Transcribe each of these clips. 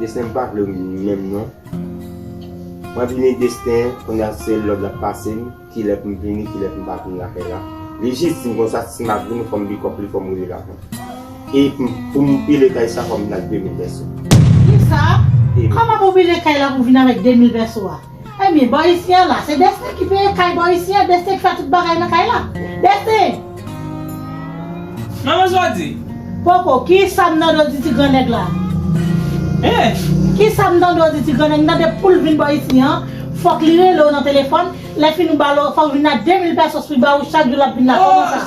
Destin m pa vlem menm non. Mwen vini destin kounya se lòd lap pasem kilè poum vini kilè poum pa vini lakay la li jis dim konsa si map vini fòm bikòp li fòm relel avan e poum pile kay sa fòm vin ak 2000 vèso. Kisa? Kòman pou pile kay la pou vin avèk 2000 vèso a? Ebyen bò isi an la se Destin ki peye kay bò isi an Destin ki fè tout bagay nan kay la Destin. Manman Jodi. Poko, kisa m tande w di ti gran nèg la? Hein? Kisa m tande w di ti gran nèg m tande poul vin bò isi an fòk li rele w nan telefòn lè fini ou ba l fòk vin la 2000 pesos li ba ou chak jou lap vin la kòman sa?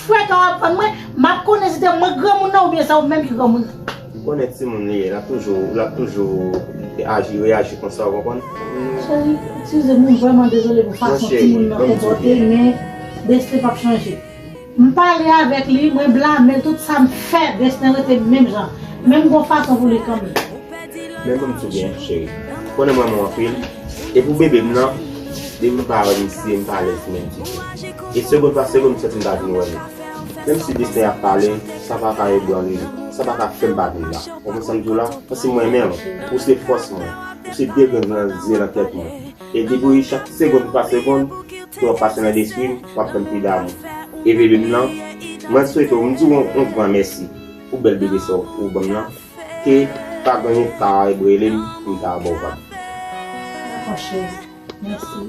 Frè ka aprann mwen, map konnen si se mwen ki granmoun nan oubyen se ou menm ki granmoun nan. Ou konnen timoun li ye, lap toujou, lap toujou aji, reyaji konsa ou konprann. Cheri, eskize m, m vrèman dezole pou fason timoun nan konpòte men Destin pap chanje. M pale avèk li, mwen blame l tout sa m fè, Destin rete menm jan, men m gon fason pou li kanmenm. Men mwen tou byen cheri. Ou konnen m renmen w anpil, e pou bebe m nan, depi m pa wè misye m pa alèz menm ditou. E segond pa segond m santi m pa vin wè nou. Menm si desten ap pale, sa pa ka ebranle m, sa pa ka fè m pa viv la. Konprann sa m di w la? Paske m renmen w. Ou se fòs mwen. Ou se de grenn nan zye nan tèt mwen. E depwi chak segond pa segond ke w ap pase nan lespri m, w ap fè m pi damou. E bebe m nan, mwen swete w, m di w yon gran mèsi pou bèl bebe sa ou ban m nan, ke pa gen yon Karayb rele m pou m ta ba w vag. Dakò cheri. Mèsi.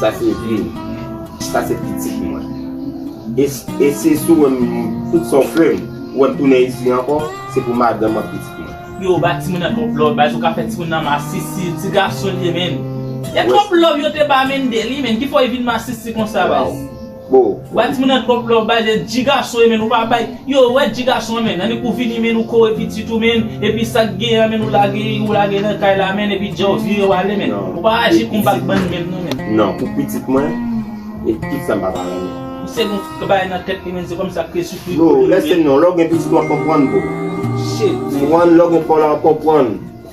Sa se vi m. Sa se pitit mwen. E si sou wè m tout sa w fè m, ou wè m tounen isi ankò, se pou madanm ak pitit mwen. Yo ba timoun nan twòp love baz ou ka fè timoun nan masisi ti gason liye menn e twòp love yo te ba Mendel li menn ki fè w vin masisi konsa baz. Boo. Wap di moun nan trop love bay zen di gason yo men nou pa bay yo wè di gason an men annik ou vini men nou kore pitit ou men epi sak gen an men nou lage ou lage nan kay la men epi djaw vire wale men ou pa aji kon bak bann men non men. Non pou pitit mwen e tout sam papa renmen. Misye gen yon bagay nan tèt li menn se kòmsi lap kriye sou figi Bro lèse non lèw gen pitit wap konprann bro Shit man. M'en lèw gen paw la wap konprann.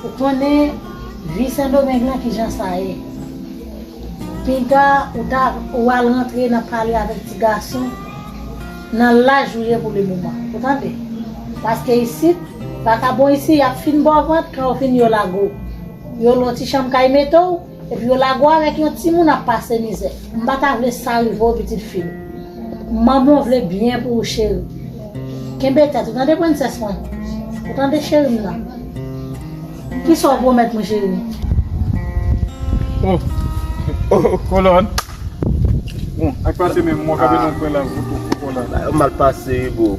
Ou konnen vi sendomeng lan kijan sa ye piga ou ta ou al rantre nan pale avèk ti gason nan laj ou ye pou le moman ou tande paske isit vakabon isi yap fin baw vant kan yo fin yo lagow yo lon ti chanm kay metew Epi yo lago avèk yon timoun ap pase mizè m pa ta vle sa rive w pitit fim manmanw vle byen pou ou cheri kenbe tèt ou tande prensès mwen ou tande cheri m nan kisa w pwomèt mwen cheri. Oh oh kolòn bon ak pase menm mwen kape nan pwen la. Mal pase boo.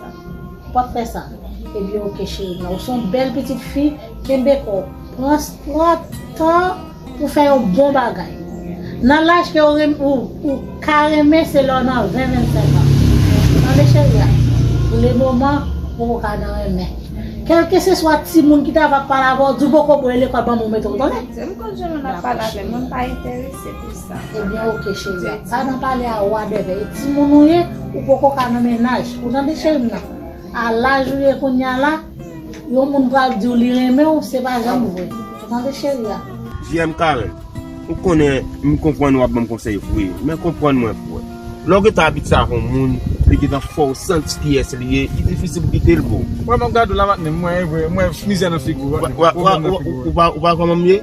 Ou pap fè sa. Ebyen ok cheri mwen. Ou se yon bèl pitit fi, kenbe kò w. Pran tan pou fè yon bon bagay. Nan laj ke ou ka renmen se lè w nan 20, 25 an. Tande cheri a. Pou le moman, ou poko ka nan renmen. Kèlke se swa timoun ki ta va pale avè w, di w poko bwè lekòl banm ou mete w tande. Se m konn jan moun ap pale avè m. Mwen pa enterese pou sa. Ebyen ok cherie pa nan pale a wa bèbè e timoun ou ye ou poko ka nan mennaj ou tande cherim nan a laj ou ye kounya la yon moun pral diw li renmenw se pa janm vre ou tande cherie a. Jiyèm Karèm ou konnen m konprann wap banm konsèy vre men konprann mwen frè lè w gentan abitye ak yon moun li gentan fè w santi kiyès li ye li difisil pou kite l boo. Wap gade w la matne mwen vre mwen mizè nan figi w matne ou pa konprann m ye.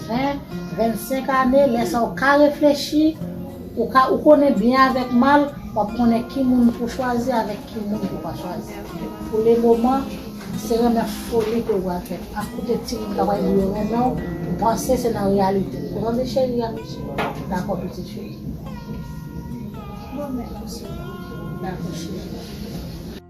Hein 25 ane lè sa ou ka reflechi ou ka ou konnen byen avèk mal wap konnen ki moun pou chwazi avèk ki moun pou pa chwazi pou le moman se renmen foli ke ou pral fè ap koute ti moun kap pale di yo renmen w ou panse se nan reyalite ou tande cheri a dakò pitit cheri. Bon mèsi. Dakò cheri.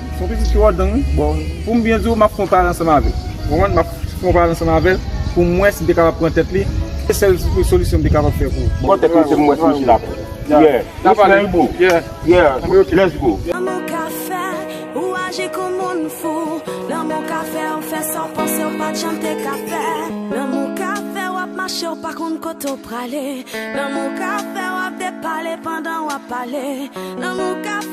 Son pitit ki wòdon wi. Bon, pou m byen di w, m ap fè yon pale ansanm avè l. Ou konprann? M ap fè yon pale ansanm avè l pou m wè si m te kapab pran tèt li. Se sèl solisyon m te kapab fè pou. Pran tèt misye pou m wè si misye t ap. Yeah. N ap pale. Yeah. Yeah. Ok. Let's go. Lanmou ka fè ou aji kou moun fou Lanmou ka fè ou fè sa w panse ou pa t janm te ka fè Lanmou ka fè w ap mache ou pa konn kote ou prale Lanmou ka fè w ap depale pandan w ap pale Lanmou ka.